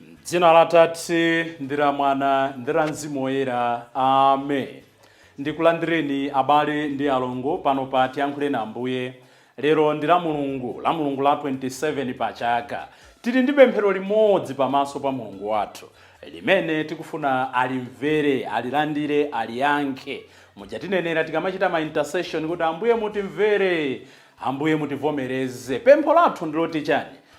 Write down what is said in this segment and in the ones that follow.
M'dzina la Atate, ndi la Mwana, ndi la Mzimu Woyera. Ame. Ndikulandireni abale ndi alongo pano pa Tiyankhuleni Ambuye. Lero ndi la Mulungu, la Mulungu la 27 pa chaka. Tili ndi pemphero limodzi pa maso pa Mulungu wathu, limene tikufuna alimvere, alilandire, aliyankhe. Muja tinenera tikamachita ma intercession kuti Ambuye mutimvere, Ambuye mutivomereze. Pempho lathu ndiloti chani?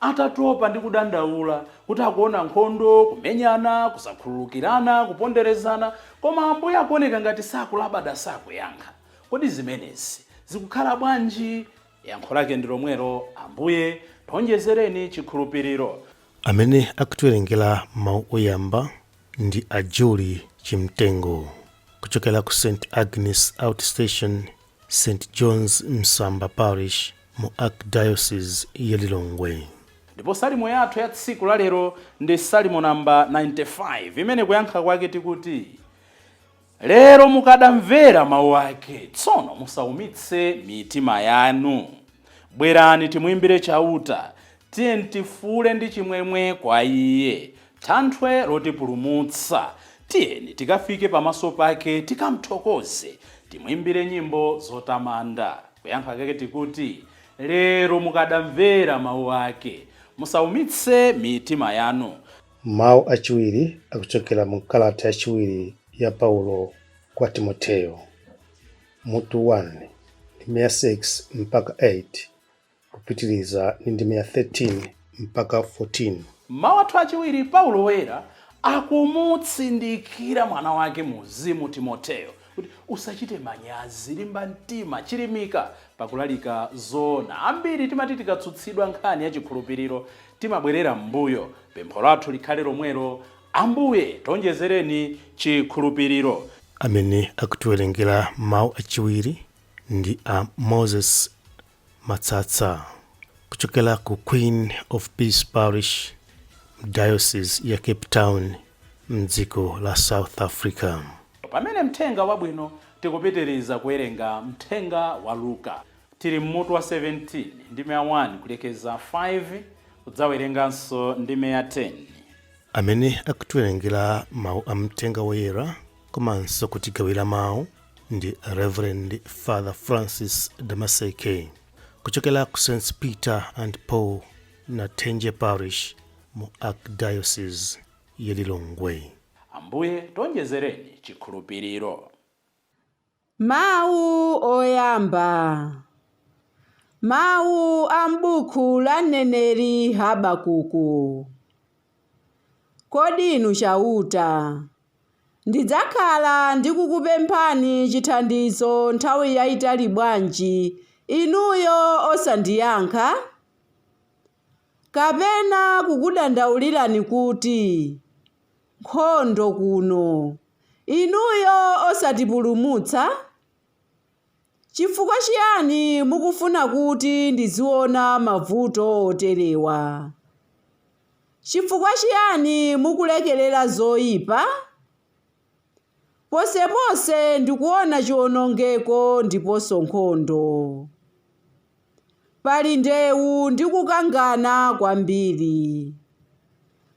Atatopa ndi kudandaula kuti akuona nkhondo, kumenyana, kusakhululukirana, kuponderezana, koma Ambuye akuoneka ngati sakulabada, sakuyankha. Kodi zimenezi zikukhala bwanji? Yankho lake ndi lomwelo, Ambuye, tonjezereni chikhulupiriro. Amene akutiwerengera mawu oyamba ndi a Julie Chimtengo kuchokera ku St Agnes Out Station St John's Msamba Parish mu Archdiocese ya Lilongwe. Ndipo Salimo yathu ya tsiku la lero ndi Salimo namba 95 imene kuyankha kwake tikuti, Lero mukadamvera mawu ake, tsono musaumitse mitima yanu. Bwerani timuimbire Chauta, Tiyeni tifuule ndi chimwemwe kwa Iye, Thanthwe lotipulumutsa, Tiyeni tikafike pamaso pake, Tikamthokoze, timuimbire nyimbo zotamanda. Kuyankha kake tikuti, Lero mukadamvera mawu ake, Musaumitse mitima yanu. Mawu achiwiri akuchokera mu kalata yachiwiri ya Paulo kwa Timoteyo, mutu 1, ndime ya 6 mpaka 8. kupitiriza ndi ndime ya 13 mpaka 14. Mawu athu achiwiri, Paulo Woyera akumutsindikira mwana wake mu mzimu Timoteo kuti, Usachite manyazi, limba mtima, chilimika pakulalika zoona. Ambiri timati tikatsutsidwa nkhani ya chikhulupiriro, timabwerera m'mbuyo. Pempho lathu likhale lomwelo, Ambuye, tonjezereni chikhulupiriro. Amene akutiwerengera Mawu Achiwiri ndi a Moses Matsatsa kuchokera ku Queen of Peace Parish m'Diocese ya Cape Town mdziko la South Africa. Pamene mthenga wabwino tikupitiriza kuwerenga mthenga wa Luka. Tili mmutu wa 17 ndime ya 1 kulekeza 5 kudzawerenganso ndime ya 10. Amene akutiwerengera mawu a mthenga woyera komanso kutigawira mawu ndi reverend father francis damaseke kuchokera ku st peter and paul nathenje parish mu archdiocese ya lilongwe ambuye tonjezereni chikhulupiriro Mawu oyamba. Mawu a m'buku la mneneri Habakuku. Kodi Inu Chauta. Ndidzakhala ndikukupemphani chithandizo nthawi yaitali bwanji, Inuyo osandiyankha? Kapena kukudandaulirani kuti, Nkhondo kuno! Inuyo osatipulumutsa? Chifukwa chiyani mukufuna kuti ndiziona mavuto oterewa? Chifukwa chiyani mukulekerera zoipa? Ponseponse ndikuona chiwonongeko ndiponso nkhondo. Pali ndewu ndi kukangana kwambiri.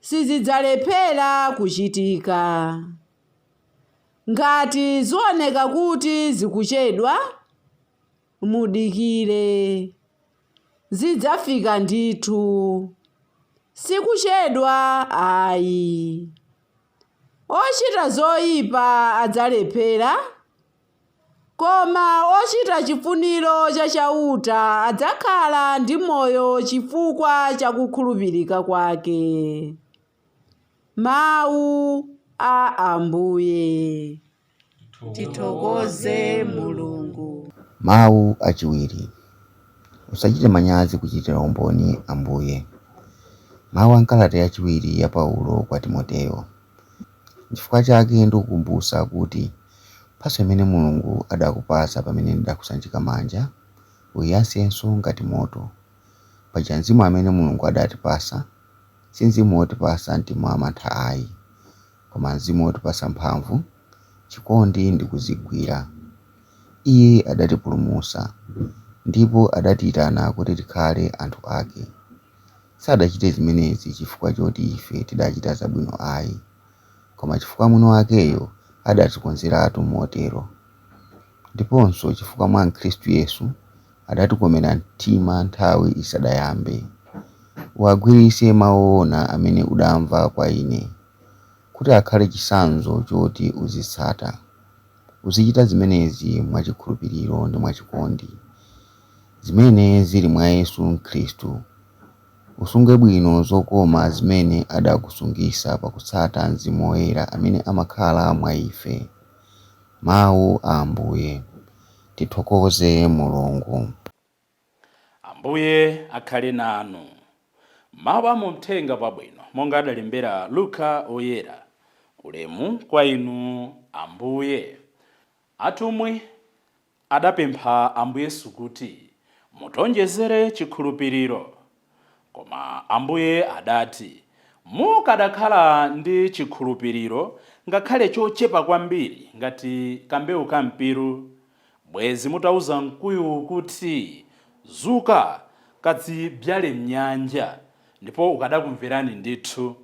sizidzalephera kuchitika. Ngati zioneka kuti zikuchedwa, mudikire. Zidzafika ndithu. Sikuchedwa ayi. Ochita zoipa adzalephera Koma ochita chifuniro cha Chauta adzakhala ndi moyo chifukwa cha kukhulupirika kwake. Mau a Ambuye. Tithokoze Mulungu. Mau achiwiri, Usachite manyazi kuchitira umboni Ambuye. Mau a m'kalata yachiwiri ya Paulo kwa Timoteo. Chifukwa chake ndikukumbutsa kuti mphatso imene Mulungu adakupatsa pamene ndidakusanjika manja, uiyasenso ngati moto. Paja mzimu amene Mulungu adatipatsa, si mzimu wotipatsa mtima wamantha ai, koma mzimu wotipatsa mphamvu, chikondi ndi kudzigwira. Iye adatipulumutsa, ndipo adatiitana kuti tikhale anthu ake. Sadachite zimenezi chifukwa choti ife tidachita zabwino ai, koma chifukwa mwini wakeyo adazikonzeratu motero. Ndiponso chifukwa mwa Khristu Yesu adatikomera mtima nthawi isadayambe. Uwagwiritse mau oona amene udamva kwa ine, kuti akhale chitsanzo choti uzitsata. Uzichita zimenezi mwa chikhulupiriro ndi mwa chikondi. zimene zili mwa Yesu Khristu. Usunge bwino zokoma zimene adakusungitsa pakutsata Mzimu Woyera amene amakhala mwa ife. Mau a Ambuye. Tithokoze Mulungu. Ambuye akhale nanu. Mau a mumthenga wabwino monga adalembera Luka Woyera. Ulemu kwa Inu Ambuye. Atumwi Adapempha Ambuye Yesu kuti, Mutionjezere chikhulupiriro. Koma Ambuye adati, Mukadakhala ndi chikhulupiriro ngakhale chochepa kwambiri ngati kambewu ka mpiru, bwezi mutauza mkuyuwu kuti, Zuka, kadzibzyale m'nyanja, ndipo ukadakumverani ndithu.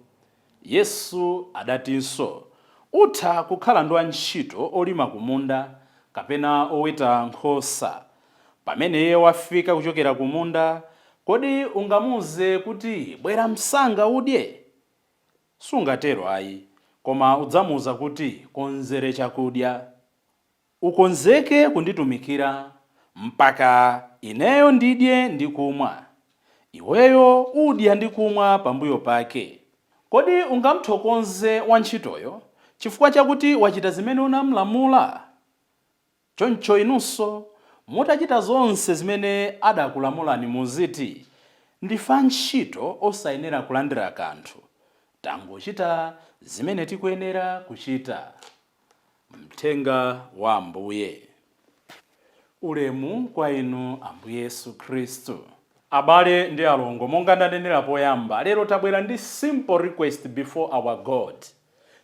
Yesu adatinso, Utha kukhala ndi wantchito wolima kumunda, kapena woweta nkhosa. Pamene iye wafika kuchokera kumunda, kodi ungamuuze kuti, Bwera msanga udye? Sungatero ayi, koma udzamuuza kuti, Konzere chakudya. Ukonzeke kunditumikira mpaka ineyo ndidye ndi kumwa. Iweyo udya ndi kumwa pambuyo pake. Kodi ungamthokoze wantchitoyo chifukwa chakuti wachita zimene unamlamula? Choncho inunso, mutachita zonse zimene adakulamulani muziti, Ndife antchito osayenera kulandira kanthu. Tangochita zimene tikuyenera kuchita. Mthenga wa Ambuye. Ulemu kwa Inu, Ambuye Yesu Khristu. Abale ndi alongo, monga ndanenera poyamba, lero tabwera ndi simple request before our God.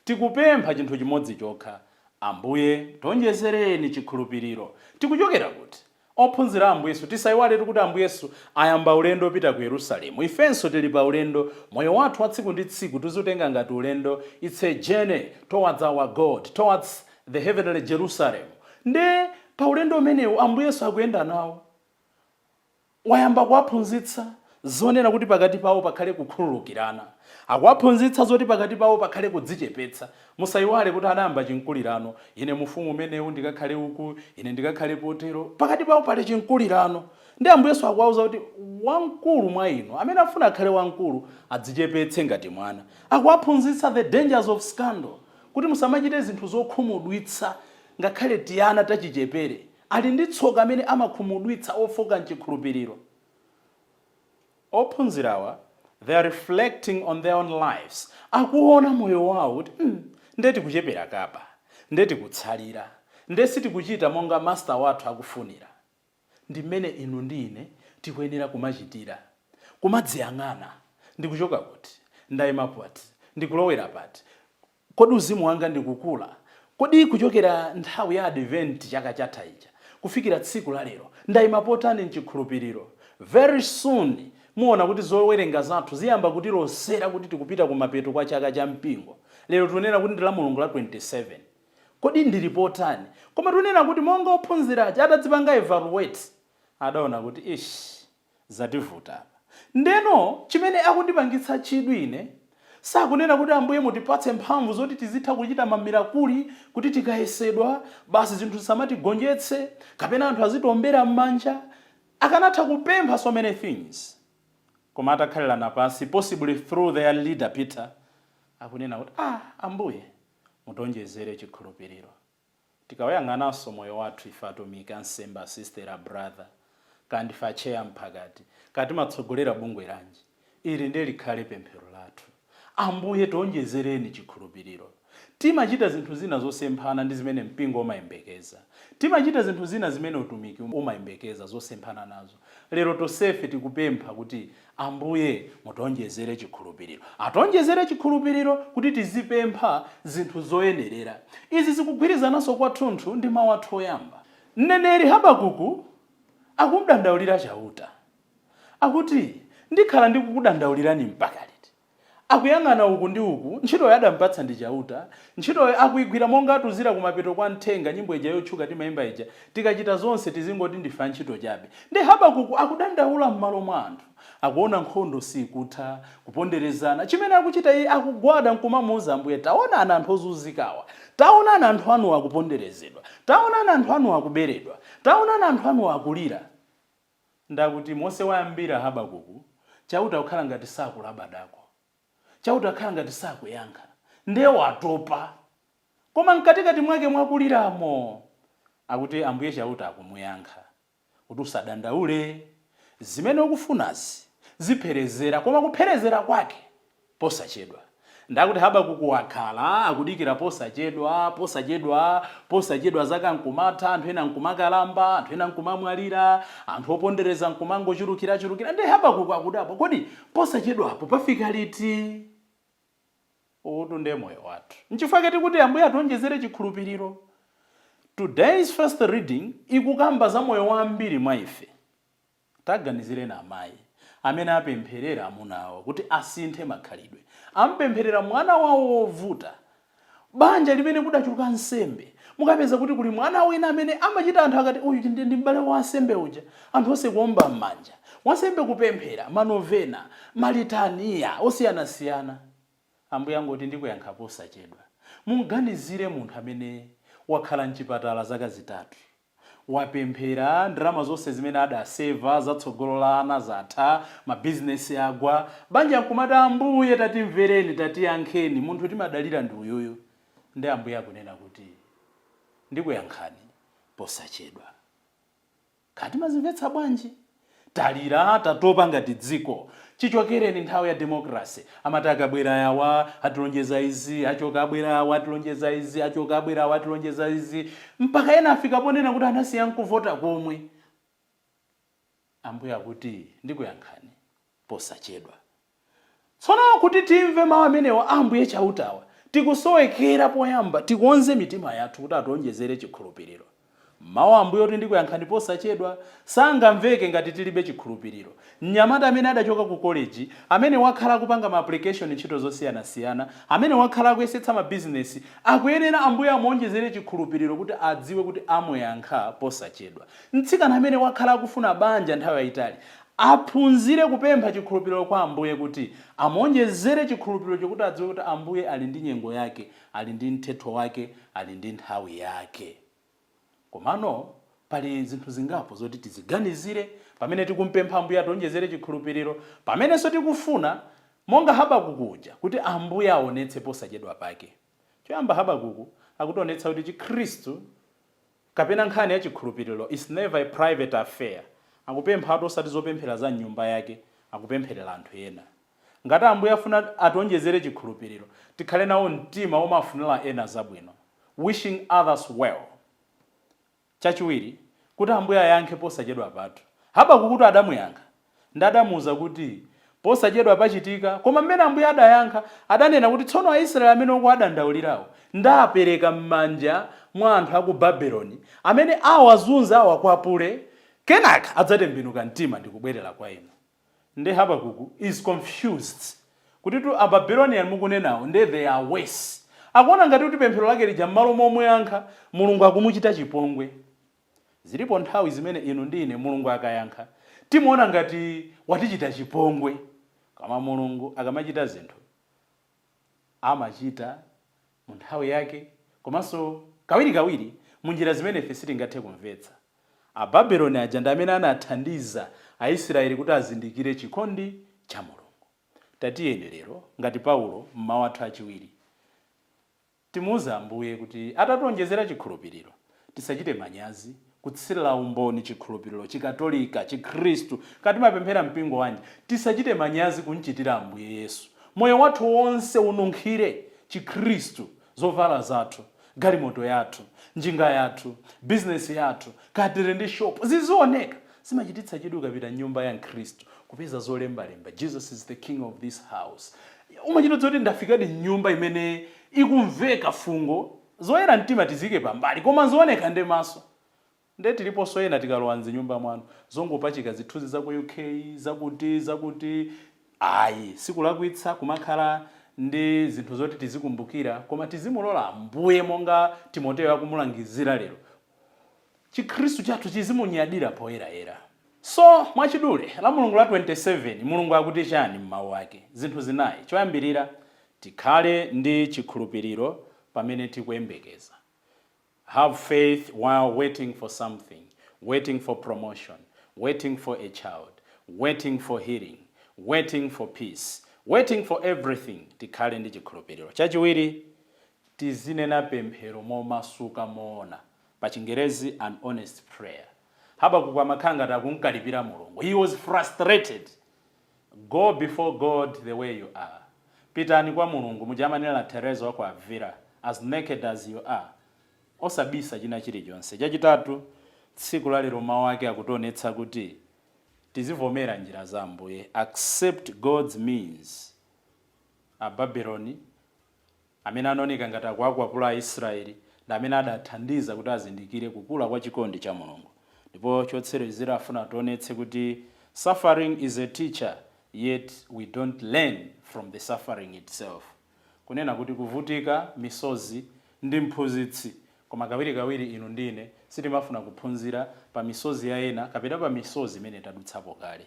Tikupempha chinthu chimodzi chokha, Ambuye tionjezereni chikhulupiriro. Tikuchokera kuti? Ophunzira a Ambuye Yesu, tisaiwaletu kuti Ambuye Yesu ayamba ulendo opita ku Yerusalemu. Ifenso tili pa ulendo, moyo wathu wa tsiku ndi tsiku tiziutenga ngati ulendo, it's a journey towards our God, towards the heavenly Jerusalem. Nde pa ulendo umenewu Ambuye Yesu akuyenda nawo, wayamba kuwaphunzitsa. zonena kuti pakati pawo pakhale kukhululukirana. Akuwaphunzitsa zoti pakati pawo pakhale kudzichepetsa. Musaiwale kuti anayamba chinkulirano, Ine mu ufumu umenewu ndikakhale uku, ine ndikakhale potero. Pakati pawo pali chinkulirano. Ndi Ambuye Yesu akuwauza kuti wamkulu mwa inu, amene afuna akhale wamkulu, adzichepetse ngati mwana. Akuwaphunzitsa the dangers of scandal, kuti musamachite zinthu zokhumudwitsa ngakhale tiana tachichepere. Ali ndi tsoka amene amakhumudwitsa ofooka m'chikhulupiriro. Ophunzirawa they are reflecting on their own lives, akuona moyo wawo kuti mm nde tikuchepera kaba, nde tikutsalira, nde sitikuchita monga Master wathu akufunira. Ndi mmene inu ndi ine tikuyenera kumachitira, kumadziyang'ana, ndikuchoka kuti? Ndaima pati? Ndikulowera pati? Kodi uzimu wanga ndikukula? Kodi kuchokera nthawi ya Advent chaka chatha chija kufikira tsiku la lero, ndaima potani m'chikhulupiriro? Very soon muona kuti zowerenga zathu ziyamba kutilosera kuti tikupita kumapeto kwa chaka cha mpingo. Lero tikunena kuti ndi la Mulungu la 27. Kodi ndili potani? Koma tikunena kuti monga ophunzira ache atadzipanga evaluate, adaona kuti ishh! Zativuta apa. Ndeno chimene akundipangitsa chidwi ine sakunena kuti Ambuye mutipatse mphamvu zoti tizitha kuchita ma mirakuli kuti tikayesedwa basi zinthu zisamatigonjetse kapena anthu azitiombera mmanja. Akanatha kupempha so many things koma atakhalirana pansi possibly through their leader Peter akunena kuti aah Ambuye mutionjezere chikhulupiriro. Tikauyang'ananso moyo wathu ife atumiki, ansembe, a sister, a brother, kaya ndife atcheya, a mphakati, kaya timatsogolera bungwe lanji, ili ndiye likhale pemphero lathu, Ambuye tionjezereni chikhulupiriro. Timachita zinthu zina zosemphana ndi zimene mpingo umayembekeza. Timachita zinthu zina zimene utumiki umayembekeza zosemphana nazo. Lero tosefe tikupempha kuti Ambuye mutionjezere chikhulupiriro. Ationjezere chikhulupiriro kuti tizipempha zinthu zoyenerera. Izi zikugwirizananso kwathunthu ndi mau athu oyamba. Mneneri Habakuku akumdandaulira Chauta. Akuti, Ndikhala ndikukudandaulirani mpaka liti? Akuyang'ana uku ndi uku, ntchitoyo adampatsa ndi Chauta, ntchitoyo akuigwira monga atiuzira kumapeto kwa mthenga nyimbo ija yotchuka timaimba ija, Tikachita zonse tizingoti ndife antchito chabe. Ndiye Habakuku akudandaula m'malo mwa anthu. Akuona nkhondo siikutha, kuponderezana. Chimene akuchita iye, akugwada nkumamuuza Ambuye, Taonani anthu ozunzikawa! Taonani anthu anuwa akuponderezedwa! Taonani anthu anuwa akuberedwa! Taonani anthu anuwa akulira! Ndiye akuti monse wayambira Habakuku, Chauta kukhala ngati sakulabadako. Chauta kukhala ngati sakuyankha. Ndiye watopa. Koma m'katikati mwake mwa kuliramo, akuti Ambuye Chauta akumuyankha kuti, Usadandaule, zimene ukufunazi zipherezera. Koma kupherezera kwake posachedwa. Ndiye akuti Habakuku wakhala akudikira posachedwa, posachedwa, posachedwa zaka nkumatha, anthu ena nkumakalamba, anthu ena nkumamwalira, anthu opondereza nkumangochulukirachulukira, ndiye Habakuku akudabwa, Kodi posachedwapo pafika liti? Uwutu ndiye moyo wathu. Nchifukwa chake tikuti Ambuye ationjezere chikhulupiriro. Today's first reading ikukamba za moyo wa ambiri mwa ife. Taganizireni amayi amene apempherera amuna awo kuti asinthe makhalidwe. Am'pempherera mwana wawo wovuta. Banja limene kudachuluka ansembe, mukapeza kuti kuli mwana wina amene amachita anthu akati, Uyu ndi m'bale wa wansembe uja. Anthu onse kuomba m'manja. Wansembe kupemphera, ma Novena, ma Litaniya osiyanasiyana. Ambuye angoti, Ndikuyankha posachedwa. Mum'ganizire munthu amene wakhala m'chipatala zaka zitatu. wapemphera, ndalama zonse zimene adaseva za tsogolo la ana zatha, mabizinesi agwa, banja nkumati Ambuye tatimvereni, tatiyankheni, munthu timadalira ndi uyuyu, nde Ambuye akunena kuti ndikuyankhani posachedwa. Kaya timazimvetsa bwanji? Talira tatopa ngati dziko chichokereni nthawi ya demokrasi amati akabwera awa atilonjeza izi achoka abwera awa atilonjeza izi achoka abwera awa atilonjeza izi mpaka ena afika ponena kuti anasiya nkuvota komwe. Ambuye akuti ndikuyankhani. posachedwa. Tsono kuti timve mau amenewa a Ambuye Chautawa, tikusowekera poyamba tikonze mitima yathu kuti ationjezere chikhulupiriro. Mau a Ambuye oti ndikuyankhani posachedwa, sangamveke ngati tilibe chikhulupiriro. Mnyamata amene adachoka ku koleji, amene wakhala akupanga ma aplikeshoni ntchito zosiyanasiyana, amene wakhala akuyesetsa mabizinesi, akuyenera Ambuye amuonjezere chikhulupiriro kuti adziwe kuti amuyankha posachedwa. Mtsikana amene wakhala akufuna banja nthawi yayitali, Aphunzire kupempha chikhulupiriro kwa Ambuye kuti amuonjezere chikhulupiriro chokuti adziwe kuti Ambuye ali ndi nyengo yake, ali ndi mthetho wake, ali ndi nthawi yake. Komano pali zinthu zingapo zoti tiziganizire pamene tikumpempha Ambuye ationjezere chikhulupiriro, pamenenso tikufuna, monga Habakuku uja, kuti Ambuye aonetse posachedwapake. Choyamba Habakuku akutionetsa kuti chikhristu kapena nkhani ya chikhulupiriro is never a private affair. Akupemphatu osati zopemphera za mnyumba yake, akupempherera anthu ena. Ngati Ambuye afuna ationjezere chikhulupiriro, tikhale nawo mtima womafunira ena zabwino, wishing others well. Chachiwiri, kuti Ambuye ayankhe posachedwapatu. Habakukutu adamuyankha. Nde adamuuza kuti, Posachedwa pachitika, koma m'mene Ambuye adayankha, adanena kuti tsono Aisraele amene ukuwadandaulirawo, ndapereka m'manja mwa anthu a ku Babeloni, amene awazunze, awakwapule, kenaka adzatembenuka mtima ndi kubwerera kwa ine. nde Habakuku is confused kutitu a Babylonian mukunenawo nde they are worse. Akuona ngati kuti pemphero lake lija mmalo momuyankha Mulungu akumuchita chipongwe. Zilipo nthawi zimene inu ndi ine Mulungu akayankha timuona ngati watichita chipongwe koma Mulungu akamachita zinthu amachita mu nthawi yake, komanso kawirikawiri mu njira zimene ife sitingathe kumvetsa. Ababeloni aja ndi amene anathandiza Aisiraeli kuti azindikire chikondi cha Mulungu. Tatiyeni lero, ngati Paulo m'mawu athu achiwiri, timuuze Ambuye kuti atatiwonjezera chikhulupiriro. Tisachite manyazi kutsirira umboni chikhulupiriro, Chikatolika, Chikhristu, kaya timapemphera mpingo wanji. Tisachite manyazi kumchitira Ambuye Yesu. Moyo wathu wonse ununkhire Chikhristu, zovala zathu, galimoto yathu, njinga yathu, bizinesi yathu, kaya tiri ndi shopu, zizioneka. Zimachititsa chidwi ukapita m'nyumba ya Mkhristu, kupeza zolembalemba, Jesus is the King of this house. Umachita kudziwa kuti ndafikadi m'nyumba imene ikumveka fungo Zoyera mtima tiziike pambali koma zioneka ndi maso nde tiliponso ena tikalowa mzinyumba mwanu zongopachika zithunzi zaku UK zakuti zakuti ayi sikulakwitsa kumakhala ndi zinthu zoti tizikumbukira koma tizimulola ambuye monga Timoteo akumulangizira lero chikhristu chathu chizimunyadira poyerayera. So, mwachidule, Lamulungu la 27, Mulungu akuti chani m'mawu ake? Zinthu zinayi, choyambirira, tikhale ndi chikhulupiriro pamene tikuyembekeza, Have faith while waiting for something, waiting for promotion, waiting for a child, waiting for healing, waiting for peace, waiting for everything, tikhale ndi chikhulupiriro. Chachiwiri, tizinena pemphero momasuka, moona. Pachingerezi, an honest prayer. Habakuku amakhala ngati akumkalipira Mulungu. He was frustrated. Go before God the way you are. Pitani kwa Mulungu, muja amanenera Theresa wa ku Avila, as naked as you are. Osabisa china chilichonse. Chachitatu, tsiku la lero mau ake akutionetsa kuti tizivomera njira za Ambuye. Accept God's means. Ababeloni, Amene anaoneka ngati akuwakwapula Aisrayeli ndi amene adathandiza kuti azindikire kukula kwa chikondi cha Mulungu. Ndipo chotsirezira afuna ationetse kuti suffering is a teacher yet we don't learn from the suffering itself. Kunena kuti kuvutika, misozi, ndi mphunzitsi, koma kawirikawiri inu ndi ine sitimafuna kuphunzira pa misozi ya ena kapena pa misozi imene tadutsapo kale.